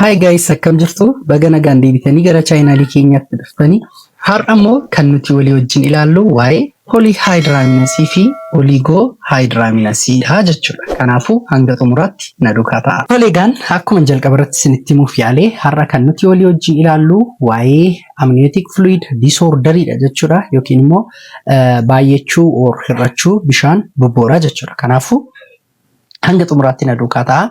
Hi guys akkam jirtu baga nagaan deebitanii gara chaayinaalii keenyaatti dhuftanii har'a immoo kan nuti walii wajjin ilaallu waa'ee poolihaayidiraamiinasii fi oliigoo haayidiraamiinasii dha jechuudha. Kanaafuu hanga xumuraatti na duukaa ta'a. Toleegaan akkuma jalqaba irratti isinitti himuuf yaale har'a kan nuti walii wajjin ilaallu waa'ee amniyootik fluid disorderii dha jechuudha yookiin immoo baay'achuu or hir'achuu bishaan bobbooraa jechuudha. Kanaafuu hanga xumuraatti na duukaa ta'a.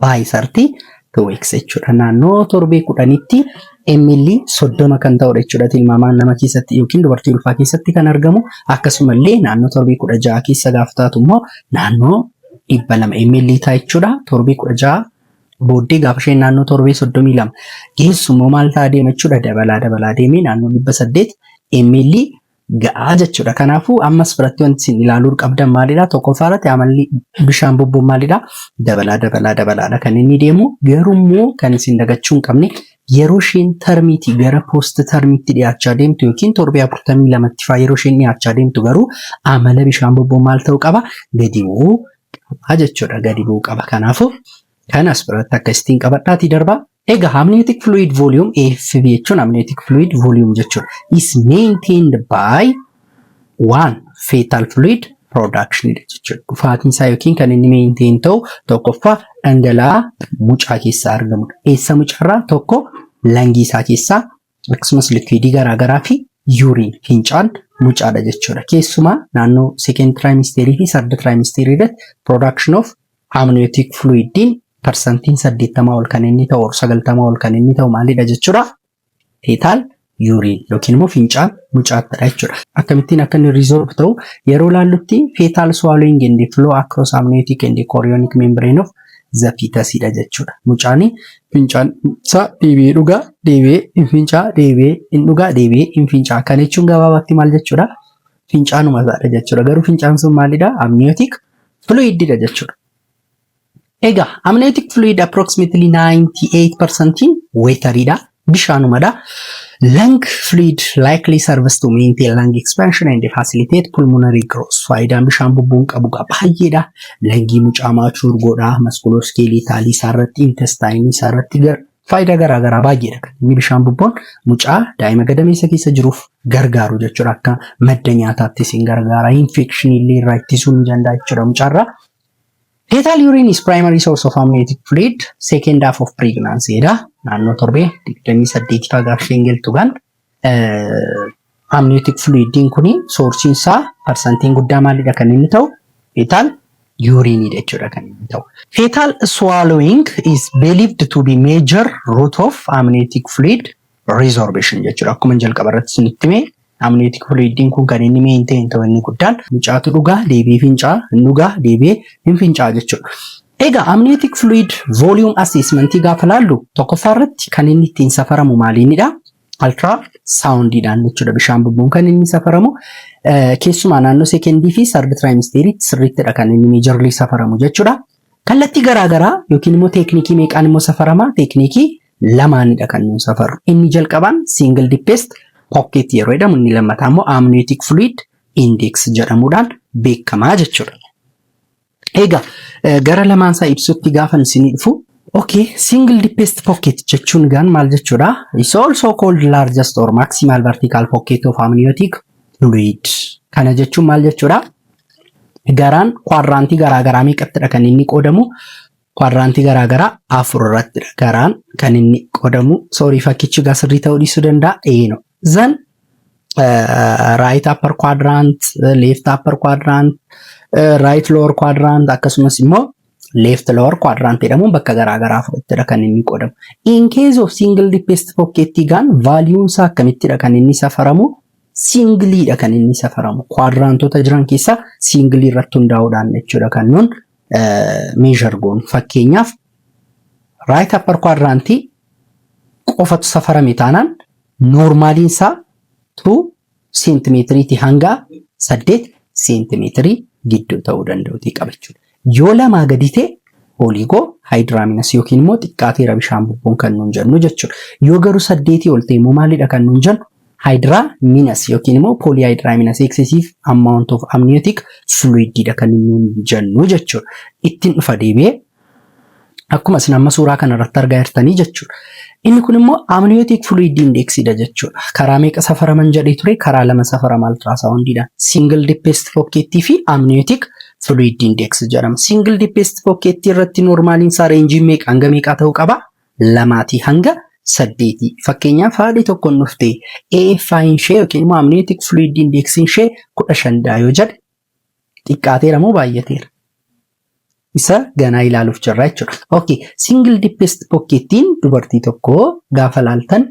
by 30 to weeks jechuudha. Naannoo torbee kudhanitti ml 30 kan ta'udha jechuudha. Tilmaamaan nama keessatti yookiin dubartii ulfaa keessatti kan argamu akkasuma illee naannoo torbee 16 keessa gaafa taatu immoo naannoo 200 ml ta'a jechuudha. Torbee 16 booddee gaafa isheen naannoo torbee 32 geessu immoo maal ta'a deema jechuudha. Dabalaa dabalaa deemee naannoo 800 ml ga'a jechuudha. Kanaafuu ammas biratti wanti isin ilaaluu qabdan maalidha? Tokkoffaa irratti amalli bishaan bobboon maalidha? Dabalaa dabalaa dabalaadha kan inni deemu. Garuu immoo kan isin dagachuu hin qabne yeroo isheen tarmiitii gara poost tarmiitti dhiyaachaa deemtu yookiin torbee afurtamii lamatti faa yeroo isheen dhiyaachaa deemtu garuu amala bishaan bobboo maal ta'uu qaba? Gadi bu'uu qaba jechuudha. Gadi bu'uu qaba. Kanaafuu Kan as biratti akka istiin qabadhaatii darbaa. Egaa amniotic fluid volume AFV jechuun amniotic fluid volume jechuudha. Is maintained by one fetal fluid production jechuudha. Dhufaatiin isaa yookiin kan inni maintain ta'u tokkoffaa dhangala'aa mucaa keessaa argamudha. Eessa mucaarraa tokko langii isaa keessaa Akkasumas liquidii garaa garaa fi urine, fincaan, mucaadha jechuudha. Keessumaa naannoo second trimester fi third trimester irratti production of amniotic fluid din parsantiin 80 ol kan inni ta'u or 90 ol kan inni ta'u maalidha jechuudha? Fetal urine yookiin immoo fincaan mucaattidha jechuudha. Akkamittiin akka inni resolve ta'u yeroo laallutti fetal swallowing and flow across amniotic and chorionic membrane of the fetus dha jechuudha. Mucaani fincaan isaa deebi'ee dhugaa, deebi'ee hin fincaa, deebi'ee hin dhugaa, deebi'ee hin fincaa. Kana jechuun gabaabaatti maal jechuudha? Fincaanuma isaadha jechuudha. Garuu fincaan sun maalidha? Amniotic fluid dha jechuudha. Egaa amniotic fluid approximately 98% water dha. bishaanumadha. Lung fluid likely serves to maintain lung expansion and facilitate pulmonary growth. Faayidaan bishaan bubbuun qabu qaba baay'eedha. Langii mucaa maachuu urgoodha. Maskulooskeelii taalii isaa irratti intestaayinii isaa irratti faayidaa garaa garaa baay'eedha kan inni bishaan bubboon mucaa daa'ima gadameessa keessa jiruuf gargaaru jechuudha akka madda nyaataattis hin gargaara infekshinii illee irraa ittisuu ni danda'a jechuudha mucaarraa. Fetal urine is primary source of amniotic fluid second half of pregnancy jedha. Naannoo torbee 28 faa gaafa isheen galtu kan amniotic fluidiin kun soorsiin isaa parsantiin guddaa maalidha kan inni ta'u fetal urine jechuudha kan inni ta'u. Fetal swallowing is believed to be major route of amniotic fluid Resorption jechuudha. Akkuma jalqaba irratti isinitti hime amniotic fluidin kun kan inni maintain ta'u inni guddaan mucaatu dhugaa deebi'ee fincaa hin dhugaa deebi'ee hin fincaa jechuudha. Egaa amniotic fluid volume assessment gaafa laallu tokkoffaa irratti kan inni ittiin safaramu maaliinidha? Ultra soundidhaan jechuudha bishaan bubbuun kan inni safaramu keessumaa naannoo sekendii fi sardi tiraayimisteeriitti sirriittidha kan inni meejarlii safaramu jechuudha. Kallattii garaagaraa yookiin immoo teeknikii meeqaan immoo safarama teeknikii lamaanidha kan nuun safaru. Inni jalqabaan single deepest pocket yeroo jedhamu inni lammataa immoo amniotic fluid index jedhamuudhaan beekamaa jechuudha. Egaa gara lamaan isaa ibsutti gaafan isinii dhufu Okay, single deepest pocket jechuun gaan maal jechuudha? It's also called largest or maximal vertical pocket of amniotic fluid. Kana jechuun maal jechuudha? Garaan kwaadiraantii garaagaraa meeqattidha kan inni qoodamu? Kwaadiraantii garaa garaa afur irrattidha garaan kan inni qodamu. Soorii fakkichi gaa sirrii ta'uu dhiisuu danda'a. Eeno. Zan raayit appar kwaadiraant, leeft appar kwaadiraant, raayit lower kwaadiraant akkasumas immoo leeft lower kwaadiraant jedhamuun bakka garaa garaa afurittidha kan inni qodamu. In case of single deepest pocket gaan vaaliyuun isaa akkamittidha kan inni safaramu? Singiliidha kan inni safaramu. Kwaadiraantota jiran keessaa singilii irratti hundaa'uudhaan jechuudha kan nuun meeshar goonu. Fakkeenyaaf raayit appar kwaadiraantii qofatu safarame taanaan noormaaliin isaa 2 seentimeetiriiti hanga 8 seentimeetirii gidduu ta'uu danda'uutii qabachuudha. Yoo lamaa gadi ta'e pooliigoo haayidiraaminas yookiin immoo xiqqaateera bishaan bubbuun kan nuun jennu jechuudha. Yoo garuu saddeetii ol ta'e immoo maalidha kan nuun jennu Hydramines yookiin immoo polyhydramines excessive amount of amniotic fluid dha kan nuun jennu jechuudha. Ittin dhufa deebi'ee akkuma isin amma suuraa kana irratti argaa jirtanii jechuudha. Inni kun immoo amniotic fluid index dha jechuudha. Karaa meeqa safaraman jedhee ture? Karaa lama safarama ultrasound dhaan. Single deepest pocket fi amniotic fluid index jedhama. Single deepest pocket irratti normaaliin isaa reenjiin meeqa hanga meeqaa ta'uu qaba? lamaatii hanga saddeetii. Fakkeenyaaf haadhi tokko hin dhufte AFI'n ishee yookiin immoo amniyootik fluid indeeksiin ishee kudha shan dha yoo jedhe xiqqaateera moo baay'ateera? Isa ganaa ilaaluuf jirra jechuudha. Okay, single deepest pockettiin dubartii tokko gaafa laaltan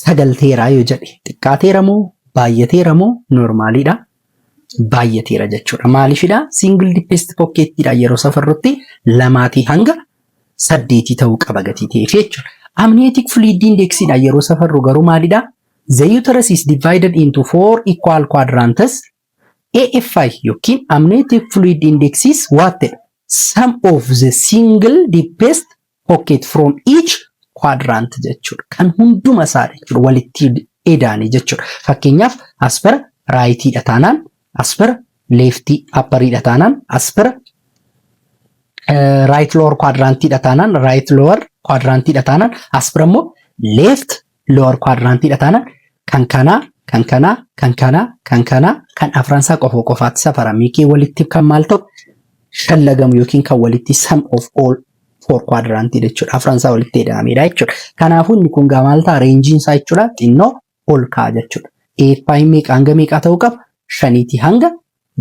sagalteeraa yoo jedhe xiqqaateera moo baay'ateera moo noormaaliidha? Baay'ateera jechuudha. Maaliifidha? Single deepest pocketidha yeroo safarrutti lamaatii hanga saddeetii ta'uu qaba gatii ta'eef jechuudha. Amniotic fluid indexidha yeroo safarru garuu maalidha? The uterus is divided into four equal quadrants AFI yookiin Amniotic Fluid Index is what the sum of the single deepest pocket from each quadrant jechuudha. Kan hunduma isaa jechuudha walitti edaane jechuudha. Fakkeenyaaf as bira raayitiidha taanaan as bira leeftii appariidha taanaan as bira raayit lower quadrantiidha taanaan raayit lower quadrantiidha taanaan as bira immoo leeft lower quadrant dha taana kan kanaa kan kanaa kan kanaa kan kanaa kan afran isaa qofa qofaatti safarame yookiin walitti kan maal ta'u shallagamu yookiin kan walitti sum of all four quadrant dha jechuudha afran isaa walitti hidhamedha jechuudha kanaafuu inni kun gaa maal ta'a reenjiin isaa jechuudha xinnoo ol ka'a jechuudha eeppaayin meeqa hanga meeqaa ta'uu qaba shaniitii hanga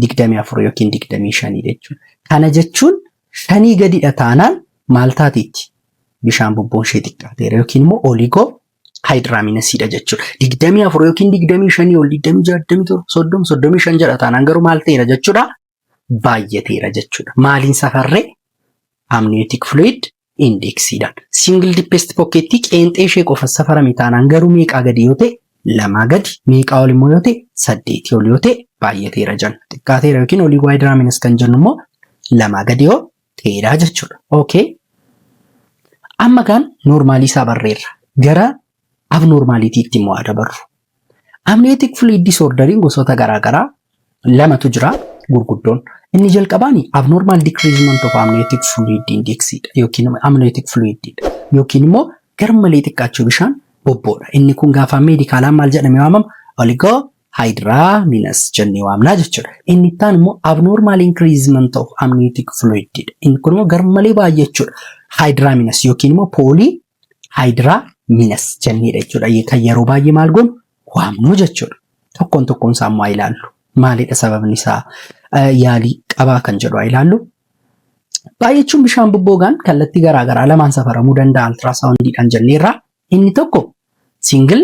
digdamii afur yookiin digdamii shanii jechuudha. Kana jechuun shanii gadidha taanaan maal taateetti? Bishaan bubboon ishee xiqqaateera yookiin immoo oligoo haayidiraaminasiidha jechuudha. Digdamii afur yookiin digdamii shanii ol digdamii ja'a digdamii torba soddoma soddomii shan jedha taanaan garuu maal ta'eera jechuudha? Baay'ateera jechuudha. Maaliin safarree? Amniyootik fluid indeeksiidhaan. Single deepest pokkeettii qeenxee ishee qofa safarame taanaan garuu meeqaa gadi yoo ta'e lamaa gadi meeqaa ol immoo yoo ta'e saddeetii ol yoo ta'e baay'ateera jenna. Xiqqaateera yookiin olii wide raminas kan jennu immoo lamaa gadi yoo ta'eedha jechuudha. Okay. Amma kaan noormaalii isaa barreerra. Gara abnoormaaliitiitti immoo haa dabarru. Amniotic fluid disorderiin gosoota garaagaraa lamatu jira gurguddoon. Inni jalqabaan abnormal decreasement of amniotic fluid index dha yookiin amniotic fluid dha yookiin immoo garmalee xiqqaachuu bishaan bobboodha. Inni kun gaafa meedikaalaan maal jedhamee waamama? Oligoo haayidiraaminus jennee waamnaa jechuudha. Inni ittaan immoo abnormal increasement of amniotic fluid dha. Inni kun immoo garmalee baay'achuudha. Haayidiraaminus yookiin immoo poolii haayidiraa minas jenneedha jechuudha. Kan yeroo baay'ee maal goonu waamnu jechuudha. Tokkoon tokkoon isaa immoo haa ilaallu. Maalidha sababni isaa yaalii qabaa kan jedhu haa ilaallu. Baay'achuun bishaan bobboogaan kallattii garaagaraa lamaan safaramuu danda'a altiraasaawundiidhaan jenneerra. Inni tokko singil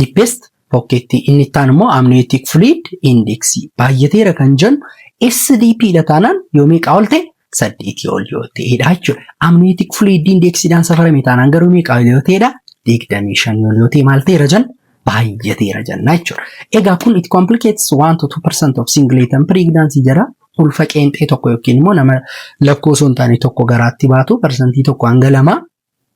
Deepest pokkeettii inni itti aanu immoo amniotic fluid index baay'ateera kan jennu SDP dha taanaan yoo meeqaa ol ta'e saddeetii ol yoo ta'edha jechuudha. Amniotic fluid index dhaan safarame taanaan garuu meeqaa ol yoo ta'edha digdamii shanii ol yoo ta'e maal ta'eera jenna baay'ateera jenna jechuudha. Egaa kun it complicates 1 to 2 percent of single item pregnancy jedha. Ulfa qeenxee tokko yookiin immoo nama lakkoo osoo hin taane tokko garaatti baatu parsantii tokko hanga lama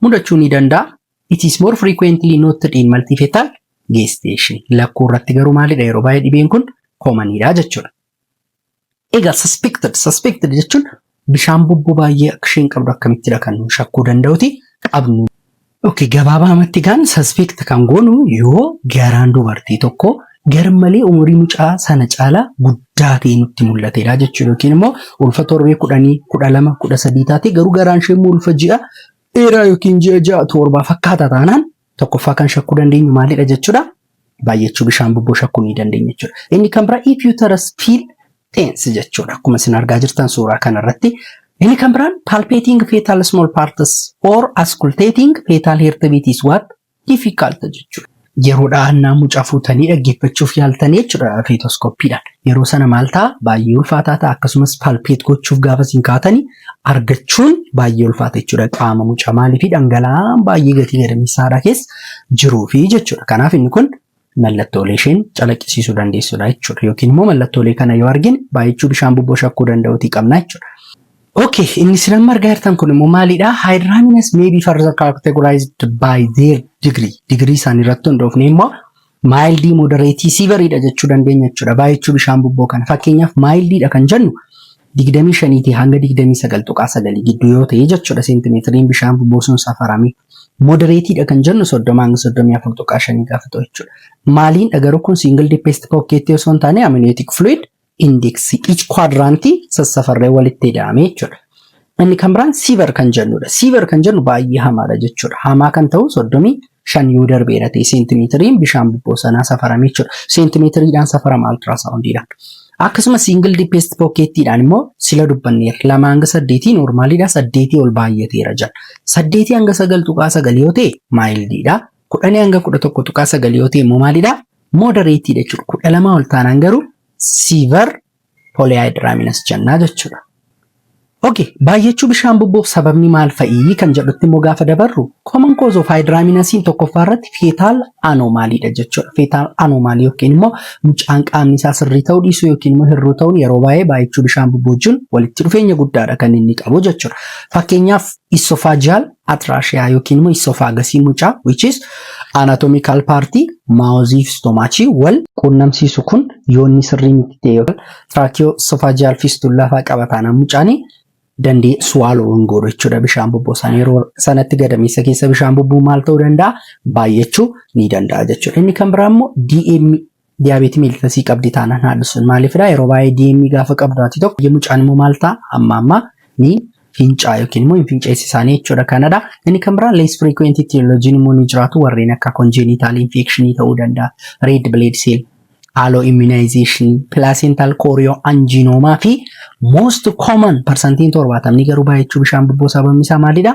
mudachuu ni danda'a. It is more frequently noted in multifetal gestation. Lakkuu irratti garuu maalidha yeroo baay'ee dhibeen kun koomaniidha jechuudha. Egaa suspected suspected jechuun bishaan bubbuu baay'ee akka isheen qabdu akkamittidha kan nu shakkuu danda'uti qabnu. Okay, gabaabaamatti gaan suspect kan goonu yoo garaan dubartii tokko garmalee umurii mucaa sana caalaa guddaa ta'ee nutti mul'ateedha jechuudha. Yookiin immoo ulfa torbee kudhanii, kudha lama, kudha sadii taatee garuu garaan ishee immoo ulfa ji'a dheeraa yookiin ji'a ja'a torbaa fakkaata taanaan tokkoffaa kan shakkuu dandeenyu maalidha jechuudha. Baay'achuu bishaan bubboo shakkuu ni dandeenya jechuudha. Inni kan biraa if uterus feel tense jechuudha. Akkuma isin argaa jirtan suuraa kanarratti. Inni kan biraan palpating fetal small parts or auscultating fetal heartbeat is what Difficult jechuun yeroo dhahannaa mucaa fuutanii dhaggeeffachuuf yaaltanii jechuudha feetoskoppiidhaan. Yeroo sana maal ta'a baay'ee ulfaataa ta'a akkasumas palpeet gochuuf gaafa isin kaatanii argachuun baay'ee ulfaata jechuudha qaama mucaa maaliif dhangala'aan baay'ee gatii gadameessaadha keessa jiruufi jechuudha. Kanaaf inni kun mallattoolee isheen calaqqisiisuu dandeessudha jechuudha. Yookiin immoo mallattoolee kana yoo argine baay'achuu bishaan bubboo shakkuu danda'uutii qabna jechuudha. Okay, inni isin amma argaa jirtan kun immoo maalidha? Hydramines may be further categorized by their degree. Digirii isaanii irratti hundoofnee immoo mild, moderate, severe dha jechuu dandeenya jechuudha. Baay'achuu bishaan bubboo kana. Fakkeenyaaf mild dha kan jennu 25 tii hanga 29.9 gidduu yoo ta'e jechuudha seentimeetiriin bishaan bubuusuun safarame. Modereetiidha kan jennu 30 hanga 34.5 gaafa ta'u jechuudha. Maaliindha garuu kun single deepest pocket osoo hin taane amniotic fluid index each quadrant sassafarree walitti ida'ame jechuudha. Inni kan biraan siiver kan jennudha. Siiver kan jennu baay'ee hamaadha jechuudha. Hamaa kan ta'u 30 shan yoo darbeera ta'e seentimeetiriin bishaan bubboo sanaa safarame jechuudha. Seentimeetiriidhaan safarama altiraasaawundiidhaan. Akkasuma siingil dipeest pookeettiidhaan immoo sila dubbanneera. Lama hanga saddeetii noormaaliidha. Saddeetii ol baay'ateera jedha. Saddeetii hanga sagal tuqaa sagal yoo ta'e maayildiidha. Kudhanii hanga kudha tokko tuqaa sagal yoo ta'e immoo maalidha? Moodareetiidha jechuudha. Kudha lamaa ol taanaan garuu siivar polyhydramines jennaa jechuudha. Okay, baay'achuu bishaan bubboof sababni maal fa'ii kan jedhutti immoo gaafa dabarru common cause of hydramines tokkoffaa irratti fetal anomaly dha jechuudha. Fetal anomaly yookiin immoo mucaan qaamni isaa sirrii ta'uu dhiisuu yookiin immoo hir'uu ta'uun yeroo baay'ee baay'achuu bishaan bubboo wajjin walitti dhufeenya guddaadha kan inni qabu jechuudha. Fakkeenyaaf Esophageal atrasia yookiin immoo esophagus mucaa which is anatomical part maawozii fi stomachii wal quunnamsiisu kun yoonni sirrii miti ta'e yookaan tracheoesophageal fistula fa'aa qaba taanaan mucaan dandee swallow hin godhu jechuudha bishaan bubbuu sana yeroo sanatti gadameessa keessa bishaan bubbuu maal ta'uu danda'a baay'achuu ni danda'a jechuudha. Inni kan biraa immoo DM Diyaabeetii meelitasii qabdi taanaan haadha sun maaliifidha yeroo baay'ee DM gaafa qabdu haati tokko baay'ee mucaan immoo maal ta'a amma amma ni fincaa yookiin immoo hin finceessi isaanii jechuudha kanadha. Inni kan biraa less frequent etiology immoo ni jiraatu warreen akka congenital infection ta'uu danda'a red blood cell haaloo immunization placental choreo angiinoomaa fi most common parsantiin torbaatamni garuu baay'achuu bishaan bubboo sababni isaa maalidha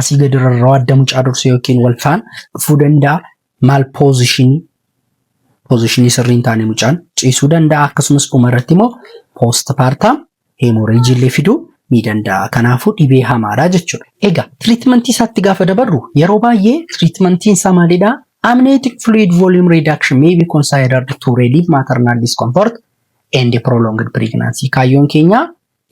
asii gadi irra rawaadda mucaa dursee yookiin wal faana dhufuu danda'a. Maal poozishinii poozishinii sirrii hin taane mucaan ciisuu danda'a. Akkasumas dhuma irratti immoo poost paartaam heemooreejii illee fiduu ni danda'a. Kanaafuu dhibee hamaadha jechuudha. Egaa tiriitmentii isaatti gaafa dabarru yeroo baay'ee tiriitmentiin isaa maalidha? Amniotic fluid volume reduction may be considered to relieve maternal discomfort and prolonged pregnancy. Kaayyoon keenya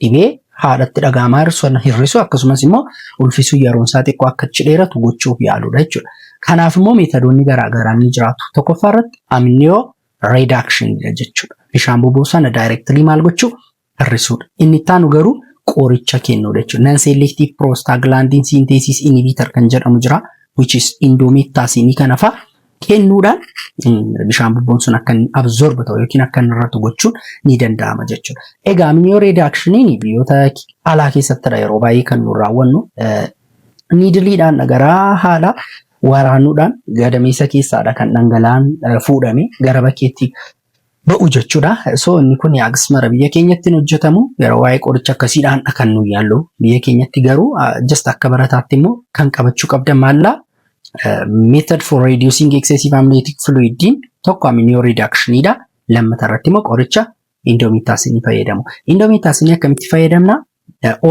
Dhibee haadhatti dhaga'amaa hir'isuun hir'isuu akkasumas immoo ulfisuun yeroon isaa xiqqoo akka achi dheeratu gochuuf yaaluudha jechuudha. Kanaaf immoo meetodoonni garaa garaa ni jiraatu. Tokkoffaa irratti amniyoo reedaakshinidha jechuudha. Bishaan boba'u sana daayirektilii maal gochuu hir'isuudha. Inni itti aanu garuu qoricha kennuudha jechuudha. Nan seelektiif piroostaaglaandiin siinteesiis inibiitar kan jedhamu jira. Which is indoomeettaasiinii kana fa'a kennuudhaan bishaan bubboon sun akka inni absorb ta'u yookiin akka inni irratti gochuun ni danda'ama jechuudha. Egaa amniyoo reedaakshinii biyyoota alaa keessattidha yeroo baay'ee kan nu raawwannu niidiliidhaan garaa haadha waraanuudhaan gadameessa keessaadha kan dhangala'aan fuudhame gara bakkeetti ba'u jechuudha. So inni kun hagas mara biyya keenyatti hin hojjetamu. Yeroo waa'ee qoricha akkasii dhaandha kan nu yaallu. Biyya keenyatti garuu just akka barataatti immoo kan qabachuu qabdan maallaa method for reducing excessive amniotic fluid tokko amniyo reduction dha. Lammata irratti immoo qoricha indomitaasinii fayyadamu. Indomitaasinii akkamitti fayyadamna?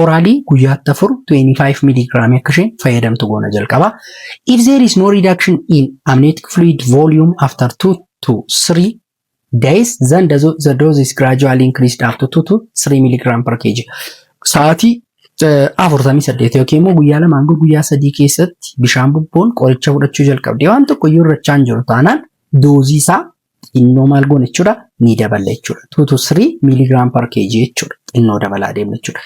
Oraalii guyyaatti afur 25 miligiraamii akka isheen fayyadamtu goona jalqaba. If there is no reduction in amniotic fluid volume after 2 to 3 days then the, the dose is gradually increased up to 2 to 3 milligram per kg. Sa'aatii afurtamii saddeet yookiin immoo guyyaa lama hanga guyyaa sadii keessatti bishaan bubboon qoricha fudhachuu jalqabde waan tokko iyyuu irrachaa hin jiru taanaan doozii isaa xinnoo maal goona jechuudha ni daballa jechuudha. 2 to 3 milligram per kg jechuudha. Xinnoo dabalaa deemna jechuudha.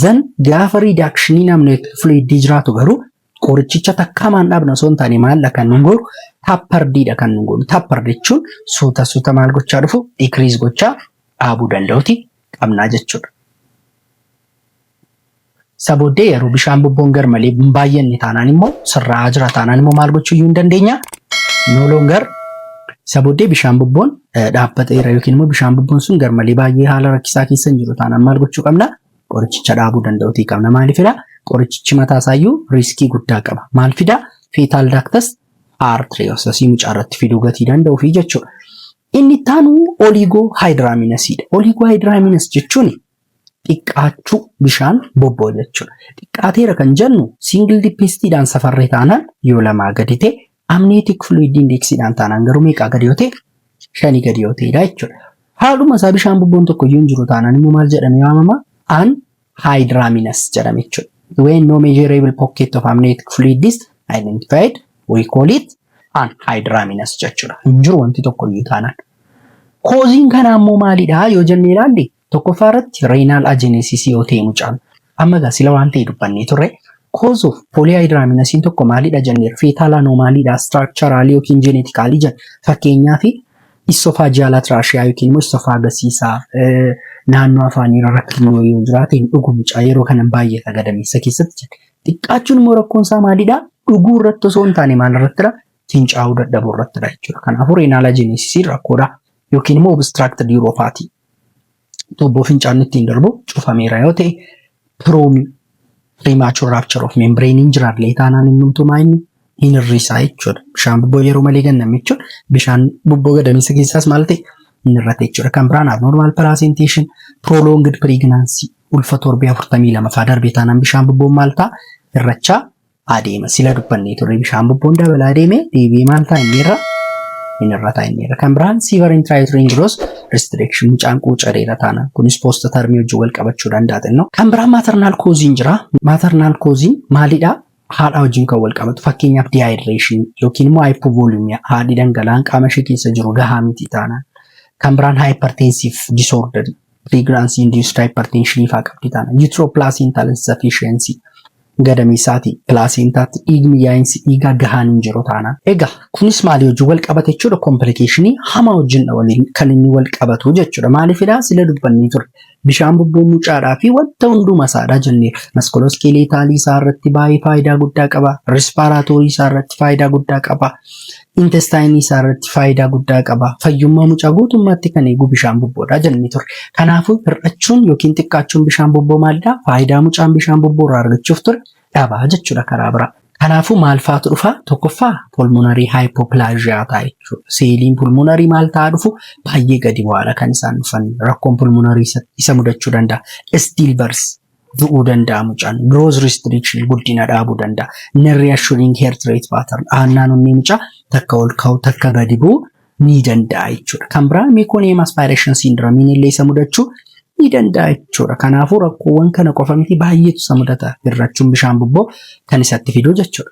Zan gaafa riidaakshinii namni fluidii jiraatu garuu qorichicha takkaa maan dhaabna osoo hin taane maal kan nu godhu tappardiidha kan nu godhu. Tappar jechuun suuta suuta maal gochaa dhufu dikriis gochaa dhaabuu danda'uti qabnaa jechuudha. Isa booddee yeroo bishaan bubboon garmalee hin baay'anne taanaan immoo sirraa'aa jira taanaan immoo maal gochuu iyyuu hin dandeenya? No longer isa booddee bishaan bubboon eh, dhaabbateera yookiin immoo bishaan bubboon sun garmalee baay'ee haala rakkisaa keessa hin jiru taanaan maal gochuu qabna? Qorichicha dhaabuu danda'uutii qabna. Maaliifidha? Qorichichi mataa isaayyuu riiskii guddaa qaba. Maal fida? Fetal ductus arteriosus mucaa irratti fiduu gatii danda'uu fi jechuudha. Inni itti aanu oliigoo haayidiraamiinasiidha. Oliigoo haayidiraamiinas jechuun xiqqaachuu bishaan bobboo jechuudha. Xiqqaateera kan jennu single dipestiidhaan safarree taanaan yoo lamaa gadi ta'e amniotic fluid indexiidhaan taanaan garuu meeqaa gadi yoo ta'e shanii gadi yoo ta'edha jechuudha. Haaluma isaa bishaan bobboon tokko iyyuu hin jiru taanaan immoo maal jedhamee waamama? An hydramines jedhama jechuudha. When no measurable pocket of amniotic fluid is identified we call it an hydramines jechuudha. Hin jiru wanti tokko iyyuu taanaan. Kooziin kanaa immoo maalidha yoo jennee ilaalle Tokkoffaa irratti reenaal ajenesisii yoo ta'e mucaan amma egaa sila waan ta'e dubbannee turre cause of polyhydraminosin tokko maalidha jenneer fetal anomalyidha structurally yookiin genetically jen fakkeenyaa fi esophageal atrachia yookiin immoo esophagus isaa naannoo afaanii rakkinoo yoo jiraate hin dhugu mucaa yeroo kanan baay'ata gadameessa keessatti jette xiqqaachuun immoo rakkoon isaa maalidha dhuguu irratti osoo hin taane maal irrattidha fincaa'uu dadhabuu irrattidha jechuudha kanaafuu reenaal ajenesisii rakkoodha yookiin immoo obstructed uropathy tuubboo fincaan ittiin darbu cufameera yoo ta'e piroomii premature rupture of membrane hin jiraanne taanaan innumtuu maa inni hin hir'isaa jechuudha. Bishaan bubboo yeroo malee ganname jechuun bishaan bubboo gadameessa keessaas maal ta'e hin hir'ate jechuudha. Kan biraan abnormal presentation prolonged pregnancy ulfa torbee 42 faa darbe taanaan bishaan bubboon maal ta'a hir'achaa adeema. Sila dubbannee turre bishaan bubboon dabalaa deeme deebi'ee maal ta'a inni irra inni irra ta'a inni irra. Kan biraan siivar intiraayitireen jiruus restriction mucaan quucareera taana. Kunis poosta tarmii wajjin wal qabachuu danda'a xinnoo. Kan biraan maatarnaal kooziin jira. Maatarnaal kooziin maalidha? Haadha wajjin kan wal qabatu fakkeenyaaf diyaayidireeshin yookiin immoo haayipovoolimiyaa haadhi dhangala'aan qaama ishee keessa jiru gahaa miti taanaan. Kan biraan haayiparteensiif disoordarii pireegiraansii induusd haayiparteenshinii fa'aa qabdi taana. Yuutiroopilaasiintaal insafiishiyensii Gadameessaati, Pilaaseentaatti, dhiigni yaa'insi dhiigaa gahaan hin jiru taanaan. Egaa kunis maalii wajjin wal qabata jechuudha? Komplikeeshinii hamaa wajjindha waliin kan inni wal qabatu jechuudha. Maaliifidha? Sila dubbannee ture. Bishaan bubbuu mucaadhaa fi wanta hunduma isaadha jenneera. Maskolooskeeleetaalii isaa irratti baay'ee faayidaa guddaa qaba. Rispaaraatoorii isaa irratti faayidaa guddaa qaba. intestaayinii isaa irratti faayidaa guddaa qaba. Fayyummaa mucaa guutummaatti kan eegu bishaan bubboodha jennee turre. Kanaafuu hir'achuun yookiin xiqqaachuun bishaan bubboo maalidha? Faayidaa mucaan bishaan bubboo irraa argachuuf ture dhabaa jechuudha karaa biraa. Kanaafuu maal faatu dhufa? Tokkoffaa pulmonarii haayipoplaaziyaa ta'a jechuudha. Seeliin pulmonarii maal ta'a dhufu? Baay'ee gadi bu'aadha kan isaan dhufan. Rakkoon pulmonarii isa mudachuu danda'a. Istiilbars du'uu danda'a mucaan growth restriction guddina dhaabuu danda'a non reassuring heart rate pattern aannaan onnee mucaa takka ol ka'u takka gadi bu'u ni danda'a jechuudha kan biraa meconium aspiration syndrome illee isa mudachuu ni danda'a jechuudha kanaafuu rakkoowwan kana qofa miti baay'eetu isa mudata hirrachuun bishaan bubboo kan isatti fiduu jechuudha.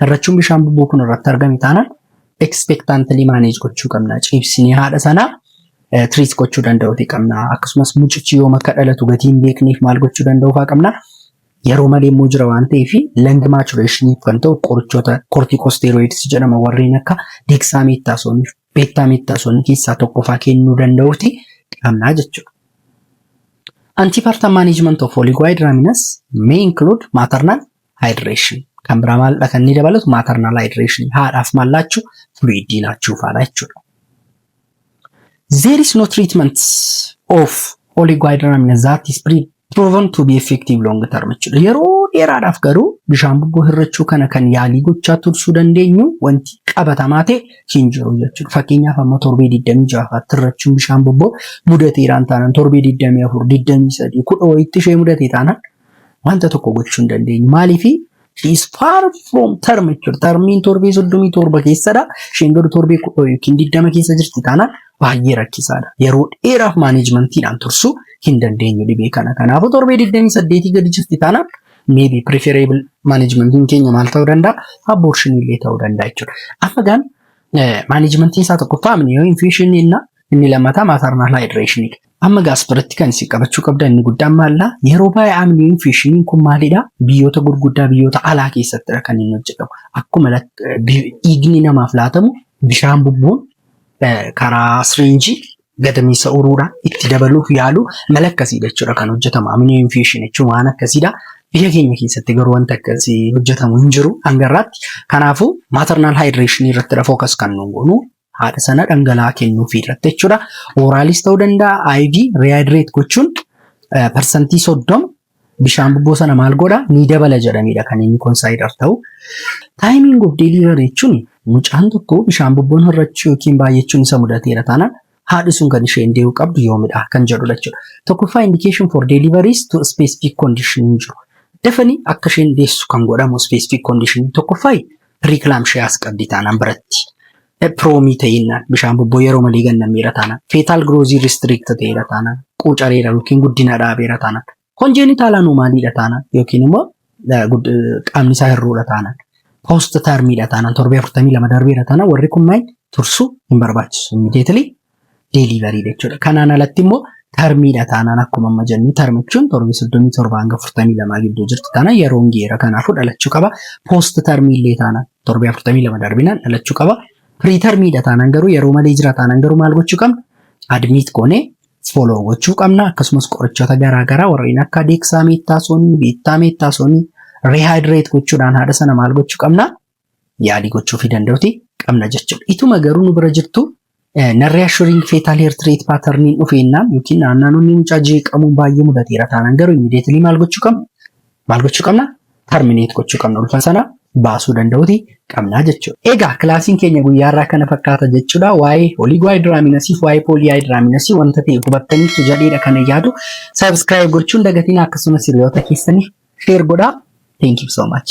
Hirrachuun bishaan bubuu kun irratti argame taanaan expectantly manage gochuu qabna. Ciibsinee haadha sana treat gochuu danda'uuti qabna. Akkasumas mucichi yoom akka dhalatu gatii hin beekneef maal gochuu danda'uu fa'aa qabna. Yeroo malee immoo jira waan ta'eef lung maturation kan ta'u qorichoota corticosteroids jedhama warreen akka dexamethasone fi betamethasone keessaa tokko fa'aa kennuu danda'uuti qabna jechuudha. Antepartum management of oligohydramnios may include maternal hydration kan biraa maaldha kan inni dabalatu maternal hydration haadhaaf maal laachuu fluidii laachuu faadha jechuudha. There is no treatment of oligohydramnios that is pre- proven to be effective long term jechuudha. Yeroo dheeraadhaaf garuu bishaan bubboo hirrachuu kana kan yaalii gochaa tursuu dandeenyu wanti qabatamaa ta'e hin jiru jechuudha. Fakkeenyaaf amma torbee 26 fa'aatti hirrachuun bishaan bubboo mudateeraan taanaan torbee 24, 23, 10 wayiitti ishee mudatee taanaan Wanta tokko gochuu hin dandeenyu. Maaliif? She is far from term jechuudha. Termiin torbee soddomii torba keessadha. Isheen garuu torbee kudha yookiin digdama keessa jirti taanaan baay'ee rakkisaadha. Yeroo dheeraaf maaneejmantiidhaan tursuu hin dandeenyu dhibee kana. Kanaafuu torbee digdamii saddeetii gadi jirti taanaan maybe preferable maaneejmantiin keenya maal ta'uu danda'a? Abortion illee ta'uu danda'a jechuudha. Amma gaan maaneejmantiin isaa tokkoffaa amniyoo infeeshinii inni lammataa maternal hydration. Amma gaas biratti kan isin qabachuu qabdan inni guddaan maalla yeroo baay'ee amniin fi shiniin kun maalidha biyyoota gurguddaa biyyoota alaa keessattidha kan inni hojjetamu akkuma dhiigni namaaf laatamu bishaan bubbuun karaa siriinjii gadameessa uruudha itti dabaluuf yaalu mala akkasiidha jechuudha kan hojjetamu amniin fi shin jechuun waan akkasiidha biyya keenya keessatti garuu wanta akkasii hojjetamu hin jiru hangarraatti kanaafuu maatarnaal haayidireeshinii irratti fookas kan nuun goonu haadha sana dhangala'aa kennuufii irratti jechuudha. Ooraalis ta'uu danda'a IV rehydrate gochuun eh, parsantii soddoma bishaan bubboo sana maal godha ni dabala jedhamedha kan inni konsaayidar ta'u. Taayimiin of delivery jechuun mucaan tokko bishaan bubboon hir'achuu yookiin baay'achuun isa mudateera taanaan haadhi sun kan isheen dee'uu qabdu yoomidha kan jedhudha jechuudha. Tokkoffaa indication for deliveries to specific condition hin jiru. Dafanii akka isheen deessu kan godhamu specific condition tokkoffaa preeclampsias qabdi taanaan baratti. Epiroomii ta'innaan bishaan bobboo yeroo malee ganna miira taanaan. Fetal growth restrict ta'eera taanaan. Quucareera yookiin guddina dhaabeera taanaan. Congenital anomalyidha taanaan yookiin immoo eh, gud- eh, qaamni isaa hir'uudha taanaan. Post termidha taanaan torbee 42 darbeera taanaan warri kunneen tursuu hin barbaachisu. Immediately deeliivarii jechuudha. Kanaan alatti immoo tarmiidha taanaan akkuma amma jennu tarmi jechuun torbee soddomii torba hanga afurtamii lamaa gidduu jirtu taana yeroon geera kanaafuu dhalachuu qaba. Poost tarmii illee taanaan torbee afurtamii lama darbinaan dhalachuu qaba. Firii tarmiidha taanaan garuu yeroo malee jira taanaan garuu maal gochuu qabna? Admiit goonee fooloo gochuu qabna akkasumas qorichoota garaagaraa warreen akka deeksaa meettaasoonii, beettaa meettaasoonii rihaayidireet gochuudhaan haadha sana maal gochuu qabna? yaalii gochuufii danda'uti qabna jechuudha. Ituma garuu nu bira jirtu narree assuring fetal heart rate pattern dhufeennaan yookiin naannaanonni mucaa jeeqamuun baay'ee mudateera taanaan garuu immediately maal gochuu qabna? Maal gochuu qabna? Terminate gochuu qabna. Ulfa sana baasuu danda'uti qabna jechuudha. Egaa kilaasiin keenya guyyaarraa kana fakkaata jechuudha. Waa'ee oligohydraminosis, waa'ee polyhydraminosis wanta ta'e hubattaniitu jedheedha kana yaadu. Subscribe gochuun dagatiin akkasumas hiriyoota keessaniif share godhaa. Thank you so much.